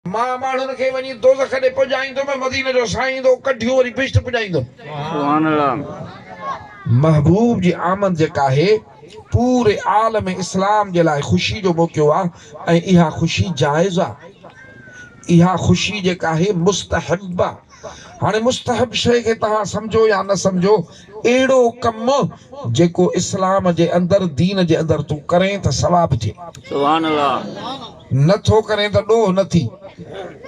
مان ماڻهن کي وڃي دوزخ ڏي پڄائيندم ۽ مديني جو سائين ايندو، ڪڍيون وري بهشت پڄائيندم. محبوب جي آمد جيڪا آهي، پوري عالم اسلام جي لاء خوشي جو موقعو آ ۽ اها خوشي جائز آ. اها خوشي جيڪا آهي مستحب آ. هاڻي مستحب شيء کي توهان سمجهو يا نه سمجهو، اهڙو ڪم جيڪو اسلام جي اندر، دين جي اندر، تون ڪرين ته ثواب ٿئي. سبحان الله. نه ٿو ڪرين ته ڏوهه نه ٿي.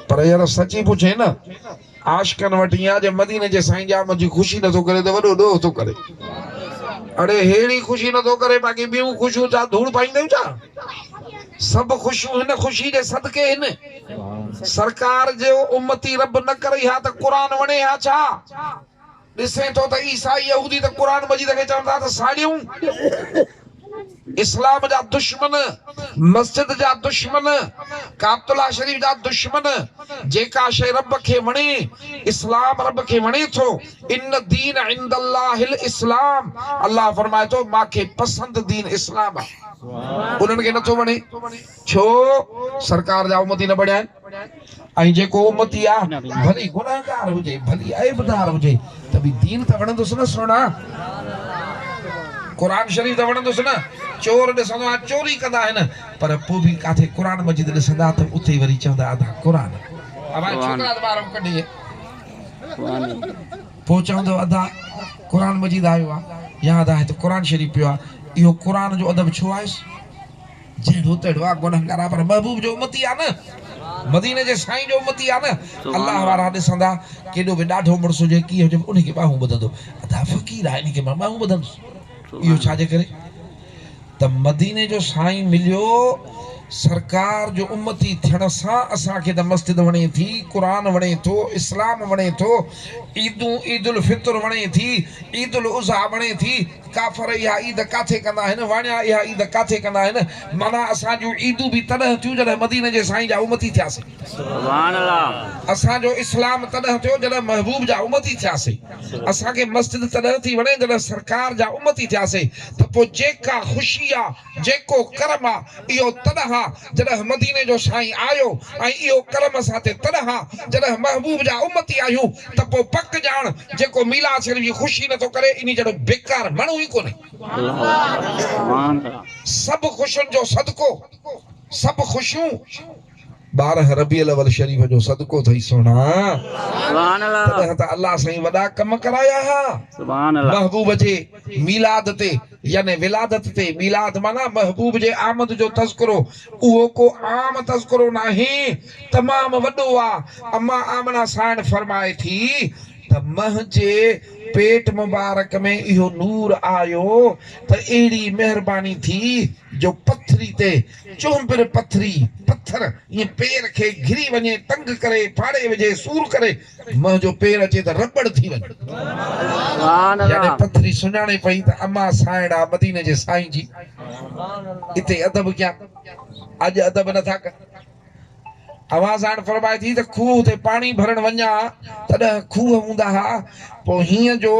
پر يار سچي پڇين نه عاشقن وٽ ايئن آ جي مديني جي سائين ڄام جي خوشي نه ٿو ڪري ته وڏو ڏوهه ٿو ڪري. اڙي ههڙي خوشي نه ٿو ڪري باقي ٻيون خوشيون ڇا ڌوڙ پائينديون ڇا. سڀ خوشيون هن خوشي جي صدقي هن. سرڪار جي امتي رب نه ڪرئي ها ته قرآن وڻي ها ڇا؟ ڏسين ٿو ته عيسائي يهودي ته قرآن مجيد کي چون ٿا ته ساڙيون اسلام جا دشمن مسجد جا دشمن ڪعبت الله شريف جا دشمن جيڪا شيء رب کي وڻي اسلام رب کي وڻي ٿو ان دين عند الله الاسلام الله فرمائي ٿو مان کي پسند دين اسلام آهي انهن کي نه ٿو وڻي ڇو سرڪار جا امتي نه بڻيا آهن ۽ جيڪو امتي آ ڀلي گنهگار هجي ڀلي عيبدار هجي ته به دين ته وڻندس نه سهڻا قرآن شريف ته وڻندس نه چور ڏسندو آ چوري ڪندا آهن پر پو به ڪاٿي قرآن مجيد ڏسندا ته اتي وري چوندا ادا قرآن اوهان ڇوڪرا ته ٻاهران ڪڍي پو چوندو ادا قرآن مجيد آيو آ يا ادا هت قرآن شريف پيو آ اهو قرآن جو ادب ڇو آهيس. جهڙو تهڙو آ گنهگار آ پر محبوب جو امتي آ نه مديني جي سائين جو امتي آ نه الله وارا ڏسندا ڪيڏو به ڏاڍو مڙس هجي ڪيئن هجي انهي کي ٻانهون ٻڌندو ادا فقير آ انهي کي مان ٻانهون ٻڌندس اهو ڇا جي ڪري ته مديني جو سائين مليو سرڪار جو امتي ٿيڻ سان اسان کي ته مسجد وڻي ٿي قرآن وڻي ٿو اسلام وڻي ٿو عيدون عيد الفطر وڻي ٿي عيد الاضحيٰ وڻي ٿي ڪافر اها عيد ڪاٿي ڪندا آهن؟ واڻيا اها عيد ڪاٿي ڪندا آهن؟ معنيٰ اسان جون عيدون به تڏهن ٿيون جڏهن مديني جي سائين جا امتي ٿياسين. اسان جو اسلام تڏهن ٿيو جڏهن محبوب جا امتي ٿياسين. اسان کي مسجد تڏهن ٿي وڻي جڏهن سرڪار جا امتي ٿياسين ته پوء جيڪا خوشي آ. جيڪو ڪرم آ اهو تڏهن آ جڏهن مديني جو سائين آيو ۽ اهو ڪرم اسان تي تڏهن آ جڏهن محبوب جا امتي آهيون ته پوء پڪ ڄاڻ جيڪو ميلاد شريف جي خوشي نٿو ڪري انهي جهڙو بيڪار ماڻهو ئي ڪونهي. سڀ خوشين جو صدقو سڀ خوشيون. ٻارهن ربيع الاول شريف جو صدقو اٿئي سهڻا. تڏهن ته الله سائين وڏا ڪم ڪرايا ها. محبوب جي ميلاد تي يعني ولادت تي ميلاد معنيٰ محبوب جي آمد جو تذڪرو اهو ڪو عام تذڪرو ناهي تمام وڏو آ اما آمنه سائڻ فرمائي ٿي ته منهنجي پيٽ مبارڪ ۾ اهو نور آيو ته اهڙي مهرباني ٿي جو پٿري تي چونبر پٿري، پٿر، ائين پير کي گھري وڃي، تنگ ڪري، ڦاڙي وجھي، سور ڪري، منھن جو پير اچي ته رٻڙ ٿي وڃي. يعني پٿري سڃاڻي پئي ته امان سانئڙا مديني جي سائين جي اتي ادب ڪيان. اڄ ادب نٿا ڪن. اوهان ساڻ فرمائي ٿي ته کوهه تي پاڻي ڀرڻ وڃان ها تڏهن کوهه هوندا ها پوء هينئن جو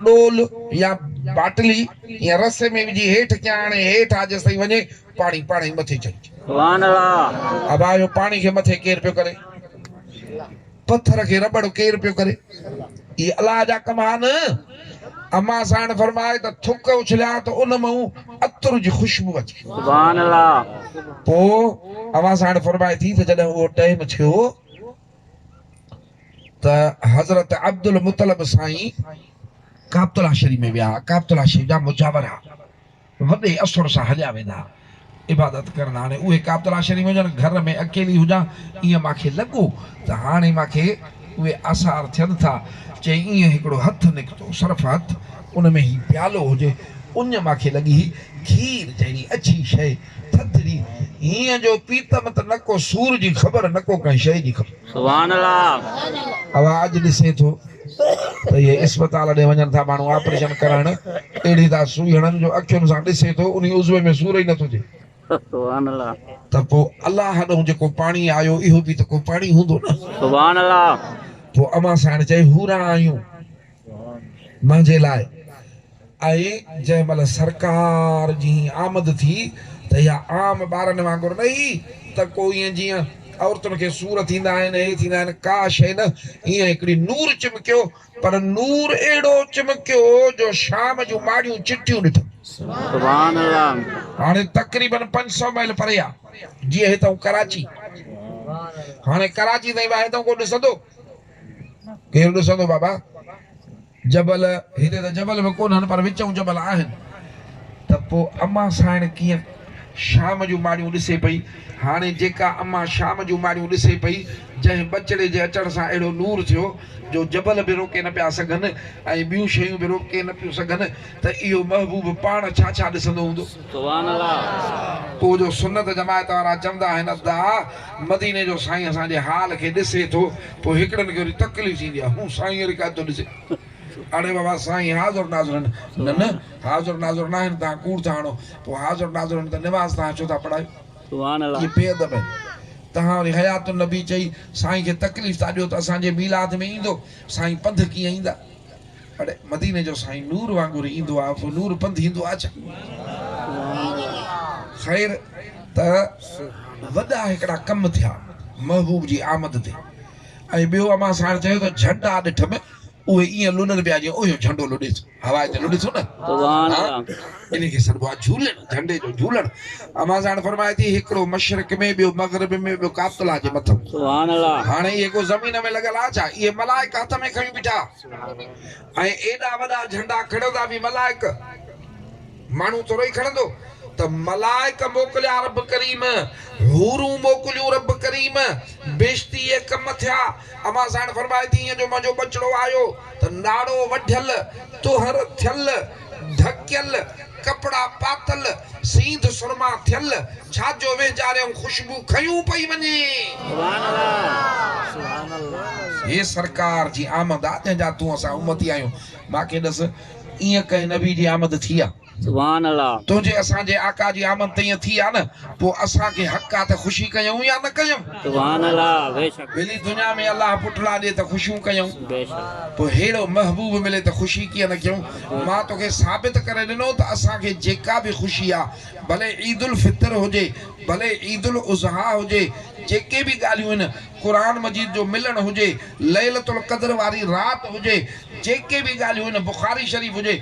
ڏول يا باٽلي يا رسي ۾ وجهي هيٺ ڪيان آڻي هيٺ آ جيستائين وڃي پاڻي پاڻ ئي مٿي چڙهجي. ابا اهو پاڻي کي مٿي ڪير پيو ڪري. پٿر کي رٻڙ ڪير پيو ڪري؟ اهي الله جا ڪم ها نه؟ امان ساڻ فرمائي ته ٿڪ اڇليا ته ان مان عطر جي خوشبو اچي. سبحان الله. پوء امان ساڻ فرمائي ٿي ته جڏهن اهو ٽيم ٿيو ته حضرت عبدالمطلب سائين ڪابتلاشري ۾ ويا، ڪابتلاشري جا مجاور ها، وڏي اثر سان هليا ويندا. عبادت ڪرڻ هاڻي اهي ڪاترا شريف هجن گهر ۾ اڪيلي هجان ايئن مان کي لڳو ته هاڻي مان کي اهي آثار ٿين ٿا چي ايئن هڪڙو هٿ نڪتو صرف هٿ ان ۾ هي پيالو هجي اڃ مان کي لڳي هي کير جهڙي اڇي شئي ٿڌڙي هيئن جو پيتم ته نه ڪو سور جي خبر نه ڪو ڪنهن شئي جي خبر. سبحان الله. اوهان اڄ ڏسين ٿو ته اهي اسپتال ڏي وڃن ٿا ماڻهو آپريشن ڪرائڻ اهڙي ٿا سوئي هڻن جو اکين سان ڏسي ٿو انهي عضوي ۾ سور ئي نه ٿو ٿئي. سبحان الله. ته پوء الله ڏئون جيڪو پاڻي آيو اهو به ته ڪو پاڻي هوندو نه. سبحان الله. پوء امان سائڻ چئي هوران آيون منهنجي لاء. ۽ جنهن مهل سرڪار جي هيء آمد ٿي ته اها عام ٻارن وانگر نه هئي ته ڪو ائين جيئن عورتن کي سور ٿيندا آهن هي ٿيندا آهن ڪا شيء نه ائين هڪڙي نور چمڪيو پر نور اهڙو چمڪيو جو شام جون ماڙيون چٽيون ڏٺم. سبحان الله. هاڻي تقريبن پنج سؤ ميل پري آ جيئن هتئون ڪراچي هاڻي ڪراچي تائين واهي تائون ڪو ڏسندو ڪير ڏسندو بابا جبل، هتي ته جبل به ڪونهن پر وچئون جبل آهن. ته پوء امان سانئڻ ڪيئن شام جون ماڙيون ڏسي پئي؟ هاڻي جيڪا امان شام جون ماڙيون ڏسي پئي، جنهن ٻچڙي جي اچڻ سان اهڙو نور ٿيو، جو جبل به روڪي نه پيا سگهن ۽ ٻيون شيون به روڪي نه پيون سگهن، ته اهو محبوب پاڻ ڇا ڇا ڏسندو هوندو. سبحان الله. پوء جو سنت جماعت وارا چوندا آهن ادا مديني جو سائين اسان جي حال کي ڏسي ٿو پوء هڪڙن کي وري تڪليف ٿيندي آهي هو سائين وري ڪا ٿو ڏسي اڙي بابا سائين حاضر ناظر آهن نه نه حاضر ناظر ناهن توهان ڪوڙ ٿا هڻو پوء حاضر ناظر آهن ته نماز توهان ڇو ٿا پڙهايو سبحان الله. اهي بي ادب آهن توهان وري حيات النبي چئي سائين کي تڪليف ٿا ڏيو ته اسان جي ميلاد ۾ ايندو سائين پنڌ ڪيئن ايندا. اڙي مديني جو سائين نور وانگر ايندو آ پو نور پنڌ ايندو آ ڇا؟ خير ته وڏا هڪڙا ڪم ٿيا محبوب جي آمد تي ۽ ٻيو امان ساڻ چيو ته جهنڊا ڏٺ م اهي ايئن لڏن پيا جيئن اهيو جهنڊو لڏي ٿو هوا تي لڏي ٿو نه سبحان ها الله انهي کي سڏبو آ جهولڻ جهنڊي جو جهولڻ امان ساڻ فرمائي ٿي هڪڙو مشرق ۾ ٻيو مغرب ۾ ٻيو ڪابت الله جي مٿن سبحان الله هاڻي اهي ڪو زمين ۾ لڳل آ ڇا اهي ملائڪ هٿ ۾ کڻي بيٺا ۽ ايڏا وڏا جهنڊا کڻندا به ملائڪ، ماڻهو ٿورو ئي کڻندو، ته ملائڪ موڪليا رب ڪريم، حورون موڪليون رب ڪريم، بيشتي اهي ڪم ٿيا، امان سائڻ فرمائي ٿي ايئن جو منهنجو ٻچڙو آيو ته ناڙو وڍيل، طهر ٿيل، ڍڪيل ڪپڙا پاتل، سينڌ سرما ٿيل، ڇا جو وينجاريون خوشبو کنيون پئي وڃي. هي سرڪار جي آمد آ جنهن جا تون اسان امتي آهيون. مان کي ڏس ائين ڪنهن نبي جي آمد ٿي آ؟ تنهنجي اسان جي آقا جي آمد ته ائين ٿي آ نه. پوء اسان کي حق آ ته خوشي ڪيون يا نه ڪيون؟ سبحان الله بيشڪ. ڀلي دنيا ۾ الله پٽڙا ڏي ته خوشيون ڪيون. بيشڪ. پوء ههڙو محبوب ملي ته خوشي ڪيئن نه ڪيون؟ مان توکي ثابت ڪري ڏنو ته اسان کي جيڪا به خوشي آ، ڀلي عيد الفطر هجي، ڀلي عيد الاضحيٰ هجي، جيڪي به ڳالهيون هن، قرآن مجيد جو ملڻ هجي، ليلة القدر واري رات هجي، جيڪي به ڳالهيون هن، بخاري شريف هجي،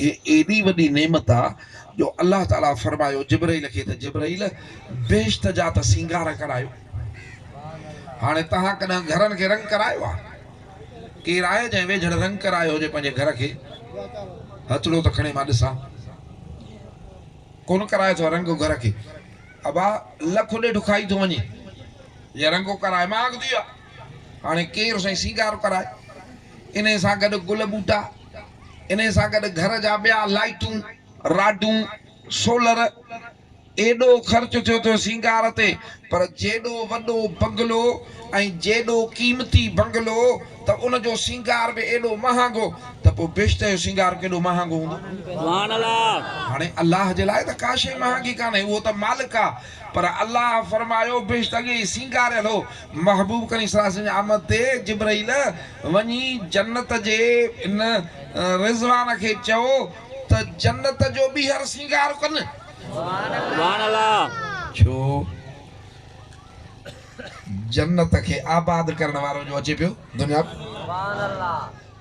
هي ايڏي وڏي نعمت آ جو الله تعاليٰ فرمايو جبرئيل کي ته جبرئيل بهشت جا ته سينگار ڪرايو هاڻي توهان ڪڏهن گهرن کي رنگ ڪرايو آ؟ ڪير آهي جنهن ويجهڙ رنگ ڪرايو هجي پنهنجي گهر کي؟ هٿڙو ته کڻي مان ڏسان. ڪونه ڪرايو اٿو رنگ گهر کي. ابا لک ڏيڍ کائي ٿو وڃي جي رنگ ڪرائي مان اڳتي آ هاڻي ڪير سائين سينگار ڪرائي؟ انهي سان گڏ گل ٻوٽا. انهيء سان گڏ گهر جا ٻيا لائيٽون، راڊون، سولر ايڏو خرچ ٿيو ٿو سينگار تي پر جيڏو وڏو بنگلو ۽ جيڏو قيمتي بنگلو ته ان جو سينگار به ايڏو مهانگو ته پوء بهشت جو سينگار ڪيڏو مهانگو هوندو. هاڻي الله جي لاء ته ڪا شيء مهانگي ڪانهي اهو ته مالڪ آ. پر الله فرمايو، بيشڪ اڳي ئي سينگاريل هو، محبوب ڪريم صلي الله عليه وسلم جي آمد تي جبرئيل وڃي جنت جي ان رضوان کي چئو ته جنت جو ٻيهر سينگار ڪن. ڇو جنت کي آباد ڪرڻ وارو جو اچي پيو دنيا ۾.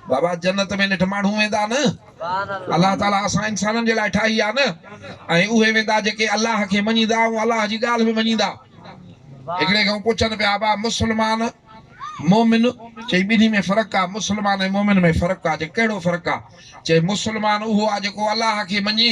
بابا جنت ۾ نيٺ ماڻهو ويندا نه الله تعالي اسان انسانن جي لاء ٺاهي آهي نه ۽ اهي ويندا جيڪي الله کي مڃيندا ۽ الله جي ڳالهه به مڃيندا هڪڙي کان پڇن پيا بابا مسلمان مومن چي ٻنهي ۾ فرق آ مسلمان ۽ مومن ۾ فرق آ چي ڪهڙو فرق آ چي مسلمان اهو آ جيڪو الله کي مڃي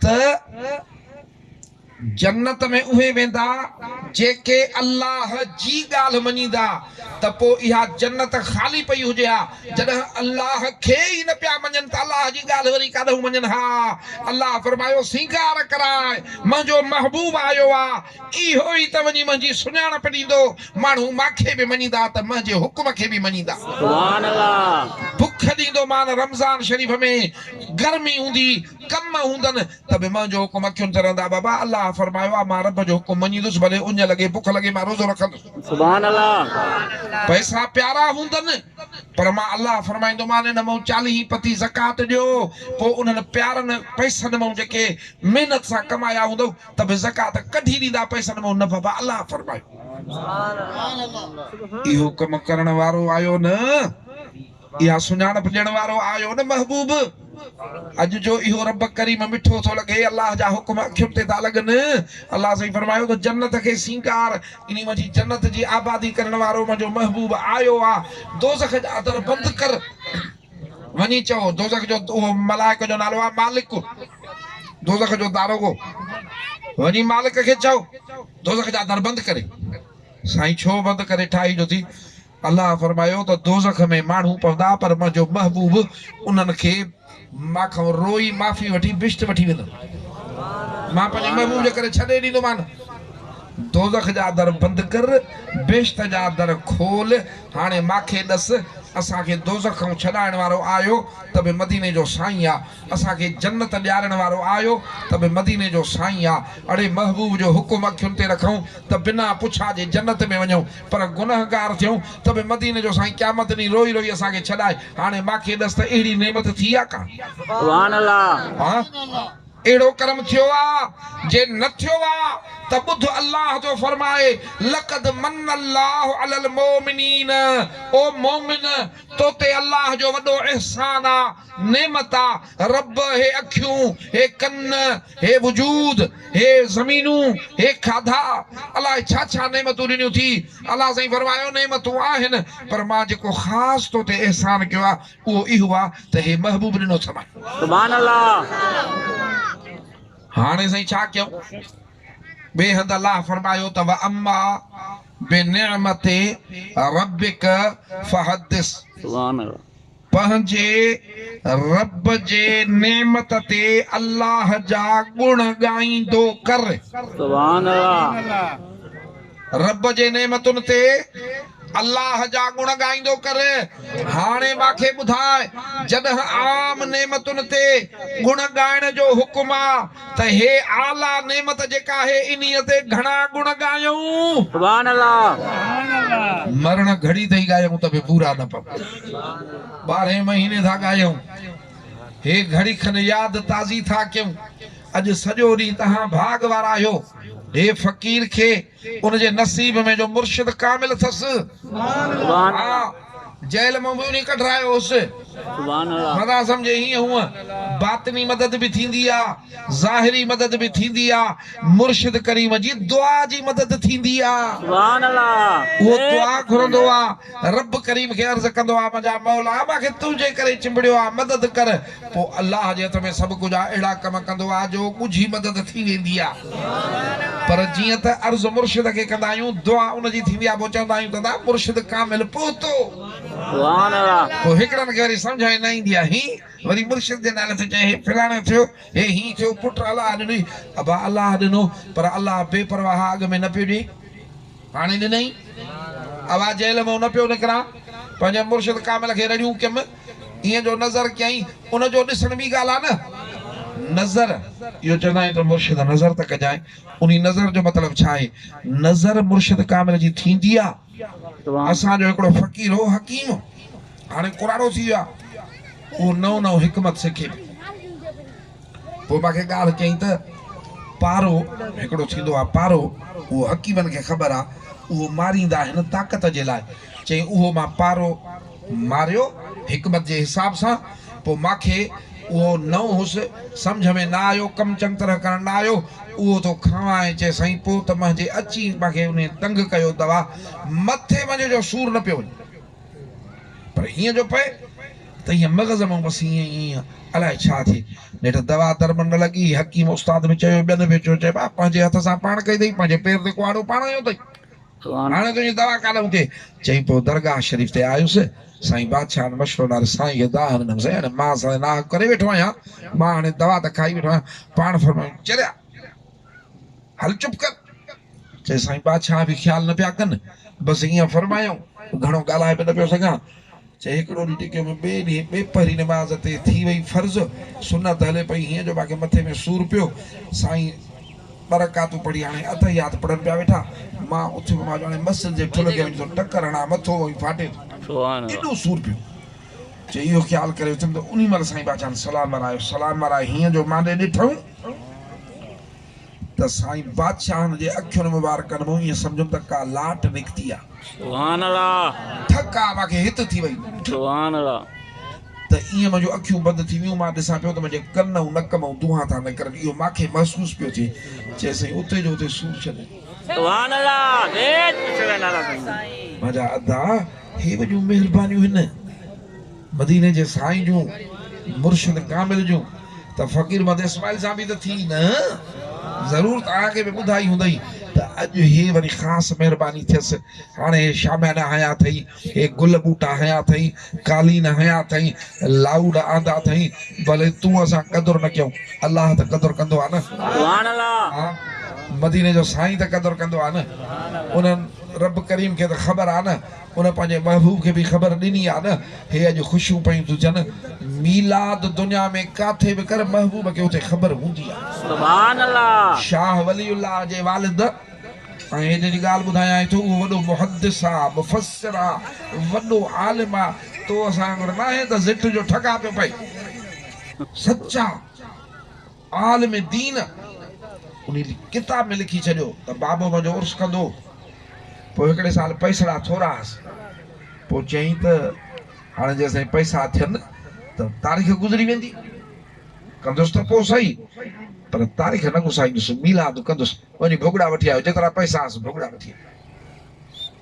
ته جنت ۾ اهي ويندا جيڪي الله جي ڳالهه مڃيندا ته پوء اها جنت خالي پئي هجي ها جڏهن الله کي ئي نه پيا مڃن ته الله جي ڳالهه وري ڪاڏهون مڃن ها الله فرمايو سينگار ڪراء منهنجو محبوب آيو آ اهو ئي ته وڃي منهنجي سڃاڻپ ڏيندو ماڻهو مانکي به مڃيندا ته منهنجي حڪم کي به مڃيندا بک ڏيندو مان رمضان شريف ۾ گرمي هوندي ڪم هوندن ته به منهنجو حڪم اکين تي رهندا بابا الله فرمايو آ مان رب جو حڪم مڃيندس ڀلي اڃ لڳي بک لڳي مان روزو رکندس. سبحان الله. پئسا پيارا هوندن پر مان الله فرمائيندومان ان مان چاليهين پتي زڪوات ڏيو پوء انهن پيارن پئسن مان جيڪي محنت سان ڪمايا هوندؤ ته به زڪوات ڪڍي ڏيندا پئسن مان نه بابا الله فرمايو اهو ڪم ڪرڻ وارو آيو نه اها سڃاڻپ ڏيڻ وارو آيو نه محبوب! اڄ جو اهو رب ڪريم مٺو ٿو لڳي، الله جا حڪم اکين تي ٿا لڳن. الله سائين فرمايو ته جنت کي سينگار، يعني منهنجي جنت جي آبادي ڪرڻ وارو منهنجو محبوب آيو آ، دوزخ جا در بند ڪر، وڃي چئو، دوزخ جو اهو ملائڪ جو نالو آ مالڪ، دوزخ جو داروغو، وڃي مالڪ کي چئو، دوزخ جا در بند ڪري. سائين ڇو بند ڪري ٺاهي جو ٿي، الله فرمايو ته دوزخ ۾ ماڻهو پوندا پر منهنجو محبوب انهن کي مان کان روئي معافي وٺي بهشت وٺي ويندو. مان پنهنجي محبوب جي ڪري ڇڏي ڏيندومان. دوزخ جا در بند ڪر، بهشت جا در کول. هاڻي ماکي ڏس، اسان کي دوزخ کان ڇڏائڻ وارو آيو ته به مديني جو سائين آ. اسان کي جنت ڏيارڻ وارو آيو ته به مديني جو سائين آ، اڙي محبوب جو حڪم اکين تي رکون ته بنا پڇا جي جنت ۾ وڃون پر گنهگار ٿيون ته به مديني جو سائين قيامت ڏينهن روئي روئي اسان کي ڇڏائي هاڻي ماکي ڏس ته اهڙي نعمت ٿي آ ڪا؟ سبحان الله. اهڙو ڪرم ٿيو آ، جي نه ٿيو آ ته ٻڌ الله جو فرمان، لقد من الله علی المومنین، او مومن! تو تي الله جو وڏو احسان آ، نعمتا رب هي اکيون، هي ڪن، هي وجود، هي زمينون، هي کاڌا، الاء ڇا ڇا نعمتون ڏنيون ٿي. الله سائين فرمايو نعمتون آهن پر مان جيڪو خاص تو تي احسان ڪيو آ اهو اهو آ ته هي محبوب ڏنو ٿي مان. سبحان الله. هاڻي سائين ڇا ڪيون؟ ٻئي هنڌ الله فرمايو ته واما بنعمت ربک فحدث. سبحان الله. پنهنجي رب جي نعمت تي الله جا گڻ ڳائيندو ڪر. سبحان الله. رب جي نعمتن تي الله جا گڻ ڳائيندو ڪر. هاڻي مان کي ٻڌاء جڏهن عام نعمتن تي گڻ ڳائڻ جو حڪم آ ته هي اعليٰ نعمت جيڪا آهي انهيء تي گهڻا گڻ ڳايون. سبحان الله. مرڻ گهڙي تائين ڳايون ته به پورا نه پون. ٻارهين مهيني ٿا ڳايون. هي گهڙي کن ياد تازي ٿا ڪيون. اڄ سڄو ڏينهن توهان ڀاڳ وارا آهيو. هي فقير کي. ان جي نصيب ۾ جو مرشد ڪامل اٿس. ها جيل مان به انهي ڪڍرايو هوس. مداح سمجهي هيئن هونء باطني مدد به ٿيندي آ، ظاهري مدد به ٿيندي آ، مرشد ڪريم جي دعا جي مدد ٿيندي آ. اهو دعا گهرندو آ، رب ڪريم کي عرض ڪندو آ، منهنجا مولا! مان کي تنهنجي ڪري چنبڙيو آ، مدد ڪر. پوء الله جي هٿ ۾ سڀ ڪجهه آ، اهڙا ڪم ڪندو آ جو ڳجهي مدد ٿي ويندي آ. پر جيئن ته عرض مرشد کي ڪندا آهيون، دعا ان جي ٿيندي آ، پوء چوندا آهيون ته ادا مرشد ڪامل پهتو. پوء هڪڙن کي وري سمجهه ۾ نه ايندي آ، هين وري مرشد جي نالي تي چئي هي فلاڻو ٿيو، هي هين ٿيو، پٽ الله ڏنئي، ابا الله ڏنو، پر الله بي پرواهه اڳ ۾ نه پيو ڏئي. هاڻي ڏنئي آواز جهل منهن نه پيو نڪران، پنهنجي مرشد ڪامل کي رڙيون ڪيم، ايئن جو نظر ڪيائين، ان جو ڏسڻ ٻي ڳالهه آ نه! نظر! اهو چوندا آهن ته مرشد نظر ته ڪجانء، انهي نظر جو مطلب ڇا آهي؟ نظر مرشد ڪامل جي ٿيندي آ؟ اسان جو هڪڙو فقير هو حڪيم، هاڻي ڪراڙو ٿي ويو آ، اهو نئون نئون حڪمت سکي پيو. پوء مان کي ڳالهه چئي ته، پارو، هڪڙو ٿيندو آهي پارو، اهو حڪيمن کي خبر آهي، اهو ماريندا آهن طاقت جي لاء. چيائين، اهو مان پارو ماريو حڪمت جي حساب سان، پوء مان کي اهو نئون هوس، سمجهه ۾ نه آيو، ڪم چڱ طرح ڪرڻ نه آيو، اهو ٿو کاوان ۽ چيس، سائين پوء ته منهنجي اچي مان کي انهي تنگ ڪيو دوا مٿي منهنجي جو سور نه پيو وڃي. پر ايئن جو پئي ته ايئن مغز مان بس ايئن ايئن ايئن الائي ڇا ٿئي. نيٺ دوا درمن نه لڳي، حڪيم استاد به چيو، ٻين به چيو، چئي ٻاپ پنهنجي هٿ سان پاڻ ڪئي اٿئي، پنهنجي پير تي ڪهاڙو پاڻ هنيو اٿئي، هاڻي تنهنجي دوا ڪاڏئون ٿئي. چئي پوء درگاهه شريف تي آيس، سائين بادشاهه وٽ مشورو ڏنائين، سائين کي دانهن ڏنم، سائين هاڻي مان ساڻي ناحق ڪري ويٺو آهيان، مان هاڻي دوا ته کائي ويٺو آهيان، پاڻ فرمايو، چريا! هل چپ ڪر. چيس سائين بادشاهه به خيال نه پيا ڪن بس ايئن فرمايائون گهڻو ڳالهائي به نه پيو سگهان. چي هڪڙو ڏينهن ٽڪيو ۾ ٻئي ڏينهن ٻئي پهري نماز تي ٿي وئي فرض سنت هلي پئي هيئن جو ماکي مٿي ۾ سور پيو سائين ٻه رڪعتون پڙهي هاڻي اتحيات پڙهن پيا ويٺا مان اٿيم مان چيو هاڻي مسجد جي ٺلهه کي وڃي ٿو ٽڪر هڻان مٿو موهين ڦاٽي ٿو ايڏو سور پيو چي اهو خيال ڪري اٿم ته انهي مهل سائين باجان سلام ورايو، سلام ورائي هينئن جو مان ڏي ڏٺم ته سائين بادشاهن جي اکين مبارڪن مون ائين سمجهيم ته ڪا لاٽ نڪتي آ. سبحان الله. ڌڪ آ مانکي هت ٿي وئي. سبحان الله. ته ائين منهنجون اکيون بند ٿي ويون، مان ڏسان پيو ته منهنجي ڪن ۽ نڪ مئن دونهان ٿا نڪرن، اهو مانکي محسوس پيو ٿئي. چيس سائين اتي جو اتي سور ڇڏ. سبحان الله منهنجا ادا هي وڏيون مهربانيون هن مديني جي سائين جون مرشد ڪامل جون ته فقير محمد اسماعيل سان به ته ٿي نه ضرور توهان کي به ٻڌائي هوندئي ته اڄ هي وري خاص مهرباني ٿيس هاڻي هي شاميانا هنيا اٿئي هي گل ٻوٽا هنيا اٿئين، قالين هنيا اٿئين، لائوڊ آندا اٿئين، پر تون اسان قدر نه ڪيئون، الله ته قدر ڪندو آهي نه. مديني جو سائين ته قدر ڪندو آهي نه. انهن رب ڪريم کي ته خبر آهي نه، ان پنهنجي محبوب کي به خبر ڏني آهي نه. هي اڄ خوشيون پيون ٿيون ٿين، ميلاد دنيا ۾ ڪاٿي به ڪر محبوب کي اتي خبر هوندي آهي. شاهه ولي الله جي والد. ۽ هن جي ڳالهه ٻڌايائين ٿو اهو وڏو محدث آ، مفسر آ، وڏو عالم آ، تون اسان وانگر ناهين ته زٽ جو ٺڳا پيو پئي. سچا عالم دين انهي ڪتاب ۾ لکي ڇڏيو ته بابو منهنجو عرس ڪندو پوء هڪڙي سال پئسڙا ٿورا هئس پوء چيائين ته هاڻي جيسين پئسا ٿين ته تاريخ گذري ويندي ڪندس ته پوء سهي پر تاريخ نه گسائيندس ميلاد ڪندس. وڃي ڀڳڙا وٺي آيو، جيترا پئسا هئس ڀڳڙا وٺي آيو،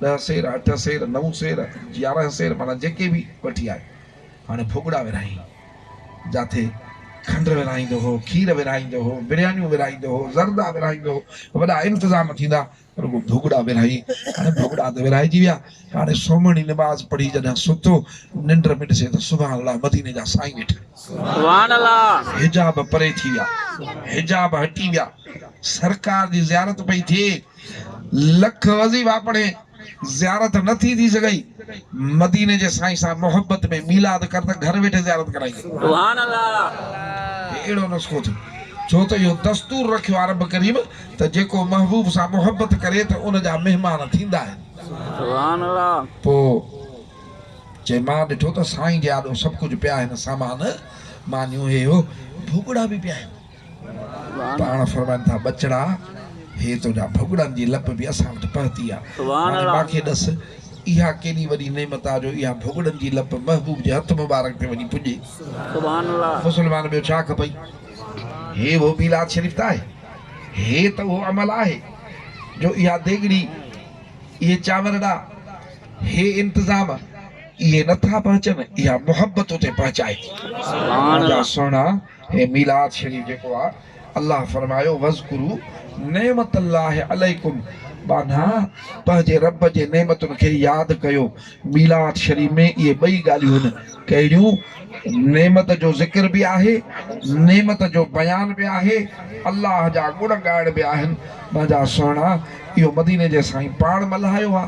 ڏهه سير، اٺ سير، نو سير، يارهن سير معنيٰ جيڪي به وٺي آيو، هاڻي ڀڳڙا ورهائين، جاٿي کنڊ ورهائيندو هو، کير ورهائيندو هو، بريانيون ورهائيندو هو، زردا ورهائيندو هو، وڏا انتظام ٿيندا، رڳو ڀڳڙا ورهائين، هاڻي ڀڳڙا ته ورهائجي ويا، هاڻي سومهڻي نماز پڙهي جڏهن ستو، ننڊ ۾ ڏسي ته سبحان الله مديني جا سائين ويٺل. سبحان الله. حجاب پري ٿي ويا حجاب هٽي ويا سرڪار جي زيارت پئي ٿئي لک وظيفا پڙهي زيارت نه ٿي ٿي سگهئي مديني جي سائين سان محبت ۾ ميلاد ڪر ته گهر ويٺي زيارت ڪرائي ڪر سبحان الله. هي اهڙو نسخو ٿيو ڇو ته اهو دستور رکيو آهي رب ڪريم ته جيڪو محبوب سان محبت ڪري ته ان جا مهمان ٿيندا آهن سبحان الله. پوء چي مان ڏٺو ته سائين جي آڏو سڀ ڪجهه پيا آهن سامان، مانيون، هي هو، ڀڳڙا به پيا آهن. پاڻ فرمائن ٿا ٻچڙا! هي تنهنجا ڀڳڙن جي لپ به اسان وٽ پهتي آ. هاڻي مانکي ڏس، اها ڪيڏي وڏي نعمت آ جو اها ڀڳڙن جي لپ محبوب جي هٿ مبارڪ تي وڃي پڄي. مسلمان ٻيو ڇا کپئي؟ هي اهو ميلاد شريف ته آهي، هي ته اهو عمل آهي جو اها ديڳڙي، اهي چانور ڏا، هي انتظام اهي نه ٿا پهچن اها محبت اتي پهچائي ٿي مانجا سهڻا هي ميلاد شريف جيڪو آ الله فرمايو وذڪرو نعمت الله عليڪم ٻانها پنهنجي رب جي نعمتن کي ياد ڪيو ميلاد شريف ۾ اهي ٻئي ڳالهيون هن ڪهڙيون نعمت جو ذڪر به آهي نعمت جو بيان به آهي الله جا گڻ ڳائڻ به آهن مانجا سهڻا اهو مديني جي سائين پاڻ ملهايو آ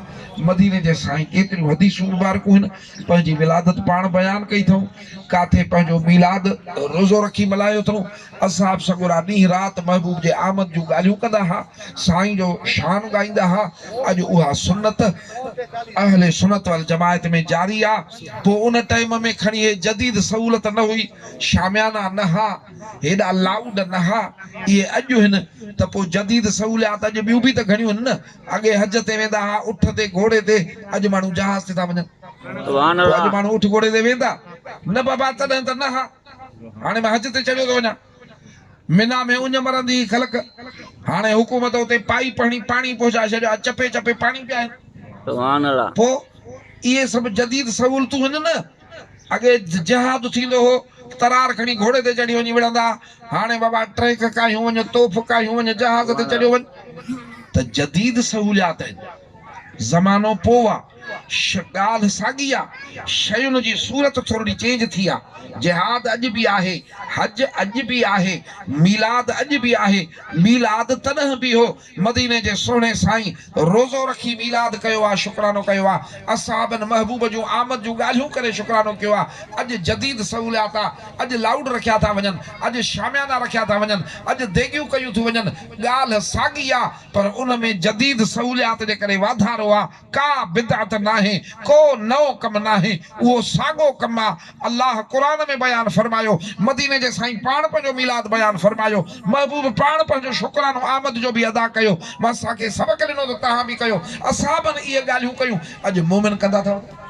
مديني جي سائين ڪيتريون حديثون مبارڪون هن پنهنجي ولادت پاڻ بيان ڪئي اٿئون، ڪاٿي پنهنجو ميلاد روزو رکي ملهايو اٿئون، اصحاب سڳورا ڏينهن رات محبوب جي آمد جون ڳالهيون ڪندا ها، سائين جو شان ڳائيندا ها، اڄ اها سنت اهل سنت والجماعت ۾ جاري آ، پوء ان ٽئيم ۾ کڻي هي جديد سهولت نه هئي، شاميانا نه ها، هيڏا لائوڊ نه ها، اهي اڄ هن ته پوء جديد سهوليات اڄ ٻيون به ته گهڻيون هن نه، اڳي حج تي ويندا ها اٺ تي گهوڙي تي اڄ ماڻهو جهاز تي ٿا وڃن سبحان الله اڄ ماڻهو اٺ گهوڙي تي ويندا نه بابا تڏهن ته نه ها هاڻي مان حج تي چڙهيو ٿو وڃان منا ۾ اڃ مرندي هي خلق هاڻي حڪومت اتي پائي پهڻي پاڻي پهچائي ڇڏيو آ چپي چپي پاڻي پيا آهن سبحان الله پو اهي سڀ جديد سهولتون هن نه اڳي جهاد ٿيندو هو، ترار کڻي گهوڙي تي چڙهي وڃي وڙهندا، هاڻي بابا ٽرينڪ ڪاهيون وڃ، توف ڪاهيون وڃ، جهاز تي چڙهيو وڃ ته جديد سهوليات آهن. زمانو پوء آ، ڳالهه ساڳي آ، شين جي صورت ٿورڙي چينج ٿي آ، جهاد اڄ به آهي، حج اڄ به آهي، ميلاد اڄ به آهي، ميلاد تڏهن به هو مديني جي سهڻي سائين روزو رکي ميلاد ڪيو آ شڪرانو ڪيو آ اصحابن محبوب جون آمد جون ڳالهيون ڪري شڪرانو ڪيو آ اڄ جديد سهوليات آ اڄ لائوڊ رکيا ٿا وڃن اڄ شاميانا رکيا ٿا وڃن اڄ ديڳيون ڪيون ٿيون وڃن ڳالهه ساڳي آ پر ان ۾ جديد سهوليات جي ڪري واڌارو آ ڪا بدعت ناهي، ڪو نئون ڪم ناهي، اهو ساڳو ڪم آ، الله قرآن ۾ بيان فرمايو، مديني جي سائين پاڻ پنهنجو ميلاد بيان فرمايو، محبوب پاڻ پنهنجو شڪرانو آمد جو به ادا ڪيو، بس اسان کي سبق ڏنو ته توهان به ڪيو، اصحابن اهي ڳالهيون ڪيون، اڄ مومن ڪندا ٿا وڃن.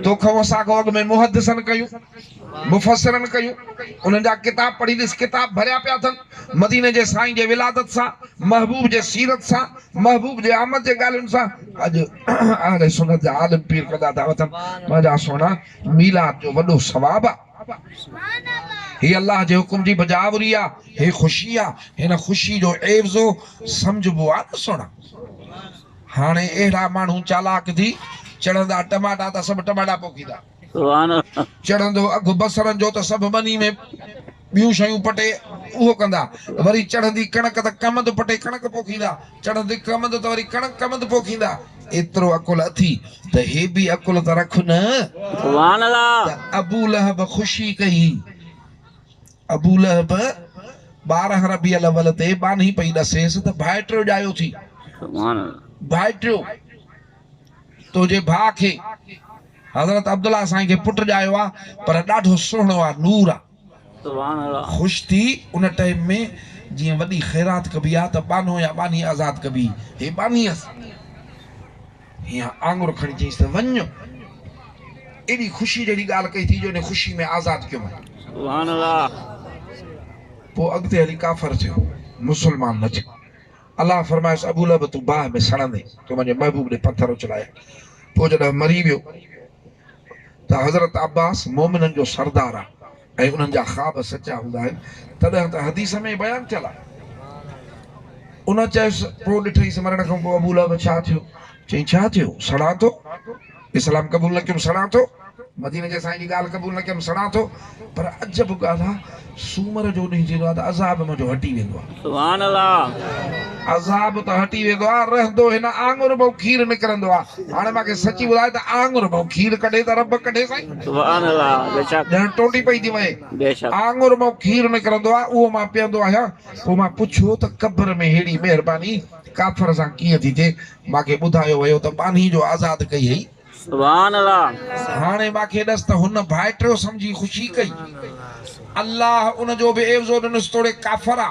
توکئون اسان کئون اڳ ۾ محدثن ڪيون. مفسرن ڪيون، انهن جا ڪتاب پڙهي ڏس، ڪتاب ڀريا پيا اٿن، مديني جي سائين جي ولادت سان، محبوب جي سيرت سان، محبوب جي آمد جي ڳالهين سان، اڄ اهل سنت جا عالم پير ڪندا ٿا وتن، منهنجا سهڻا ميلاد جو وڏو ثواب آ، هي الله جي حڪم جي بجاآوري آ، هي خوشي آ، هن خوشي جو عيوضو سمجهبو آ نه سهڻا، هاڻي اهڙا ماڻهو چالاڪ ٿي چڙهندا، ٽماٽا ته سڀ ٽماٽا پوکيندا. چڙهندو اگهه بصرن جو ته سڀ ٻني ۾ ٻيون شيون پٽي اهو ڪندا. وري چڙهندي ڪڻڪ ته ڪمند پٽي ڪڻڪ پوکيندا. چڙهندي ڪمند ته وري ڪڻڪ ڪمند پوکيندا. ايترو عقل اٿي ته هي به عقل ته رک نه. ته ابولهب خوشي ڪئي. ابولهب ٻارهن ربيع الاول تي ٻانهي پئي ڏسيس ته ڀائٽيو ڄايو ٿي. ڀائٽيو! تنهنجي ڀاء کي حضرت عبدالله سائين کي پٽ ڄايو آ پر ڏاڍو سهڻو آ نور آ. سبحان الله. خوش ٿي ان ٽئم ۾ جيئن وڏي خيرات ڪبي آ ته ٻانهو يا ٻانهي آزاد ڪبي هي ٻانهي هس هيان آڱر کڻي چيس ته وڃ ايڏي خوشي جهڙي ڳالهه ڪئي ٿي جو انهي خوشي ۾ آزاد ڪيو مئن. سبحان الله. پوء اڳتي هلي ڪافر ٿيو مسلمان نه ٿيو. الله فرمايس ابو لهب تون باهه ۾ سڙندين تو منهنجي محبوب ڏي پٿر اڇلايا پوء جڏهن مري ويو ته حضرت عباس مومنن جو سردار آ ۽ انهن جا خواب سچا هوندا آهن تڏهن ته حديث ۾ بيان ٿيل آ ان چيس پوء ڏٺئيس مرڻ کان پوء ابو لهب ڇا ٿيو چئين ڇا ٿيو سڙان ٿو اسلام قبول نه ڪيم سڙان ٿو. مديني جي سائين جي ڳالهه قبول نه ڪيم سڙان ٿو. پر عجب ڳالهه آ سومر جو ڏينهن ٿيندو آ ته عذاب منهنجو هٽي ويندو آ. سبحان الله. عذاب ته هٽي ويندو آ رهندو هن آڱر مان کير نڪرندو آ. هاڻي مان کي سچي ٻڌاء ته آڱر مان کير ڪڍي ته رب ڪڍي سائين. سبحان الله بيشڪ. ڄڻ ٽوٽي پئي ٿي وهي. بيشڪ. آڱر مان کير نڪرندو آ اهو مان پيئندو آهيان. پوء مان پڇيو ته قبر ۾ ههڙي مهرباني ڪافر سان ڪيئن ٿي ٿئي. مان کي ٻڌايو ويو ته ٻانهي جو آزاد ڪئي هئي. سبحان الله. هاڻي مان کي ڏس ته هن ڀائٽريو سمجهي خوشي ڪئي. الله ان جو به عيوضو ڏنس توڙي ڪافر آ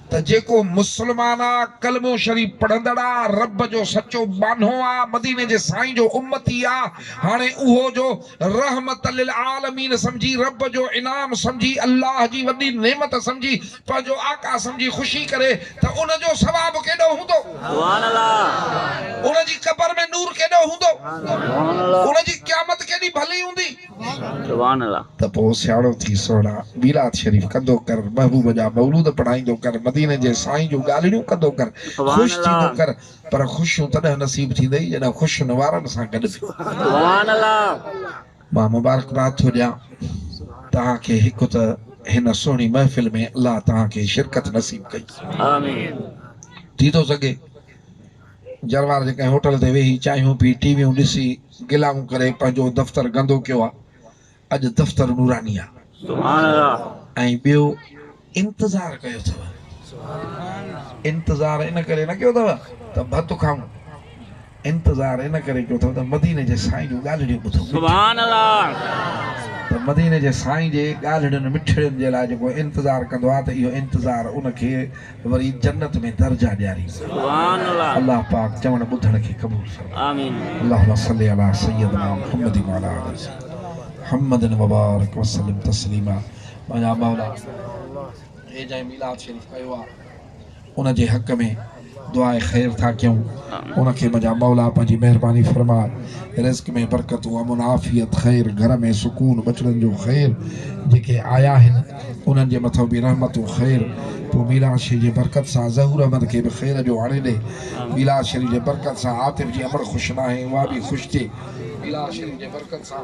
ته جيڪو مسلمان آ، ڪلمو شريف پڙهندڙ آ، رب جو سچو ٻانهو آ، مديني جي سائين جو امتي آ، هاڻي اهو جو رحمت للعالمين سمجهي، رب جو انعام سمجهي، الله جي وڏي نعمت سمجهي، پنهنجو آقا سمجهي خوشي ڪري ته ان جو ثواب ڪيڏو هوندو. ان جي قبر ۾ نور ڪيڏو هوندو. ان جي قيامت ڪيڏي ڀلي هوندي. ته پوء سياڻو ٿي سهڻا ميلاد شريف ڪندو ڪر، محبوب جا مولود پڙهائيندو ڪر، مديني جي سائين جون ڳالهڙيون ڪندو ڪر، خوش ٿيندو ڪر، پر خوشيون تڏهن نصيب ٿيندئي جڏهن خوشين وارن سان گڏ به. مان مبارڪباد ٿو ڏيان توهان کي هڪ ته هن سهڻي محفل ۾ الله توهان کي شرڪت نصيب ڪئي آمين ٿي ٿو سگهي جروار جي ڪنهن هوٽل تي ويهي چانهيون پي ٽي ويون ڏسي گلائون ڪري پنهنجو دفتر گندو ڪيو آهي اڄ دفتر نوراني آهي سبحان الله ۽ ٻيو انتظار ڪيو اٿو. انتظار ان ڪري نه ڪيو اٿو ته ڀت کائون. انتظار ان ڪري ڪيو اٿو ته مديني جي سائين جون ڳالهڙيون ٻڌو. ته مديني جي سائين جي ڳالهڙين مٺڙين جي لاء جيڪو انتظار ڪندو آهي ته اهو انتظار ان کي وري جنت ۾ درجا ڏياريندو. الله پاڪ چوڻ ٻڌڻ کي قبول فرمائي. اللهم صل علی سيدنا محمد وعلي آل سيدنا محمد وبارڪ وسلم تسليما. پنهنجا مئلا اي جنهن ميلاد شريف ڪيو آ ان جي حق ۾ دعاء خير ٿا ڪيون ان کي منهنجا مئلا پنهنجي مهرباني فرماء رزق ۾ برڪتون امن عافيت خير گهر ۾ سڪون ٻچڙن جو خير جيڪي آيا آهن انهن جي مٿو به رحمتون خير پوء ميلاد شريف جي برڪت سان ظهور احمد کي به خير جو آڻي ڏي ميلاد شريف جي برڪت سان عاطف جي امڙ خوش ناهي اها به خوش ٿئي ميلاد شريف جي برڪت سان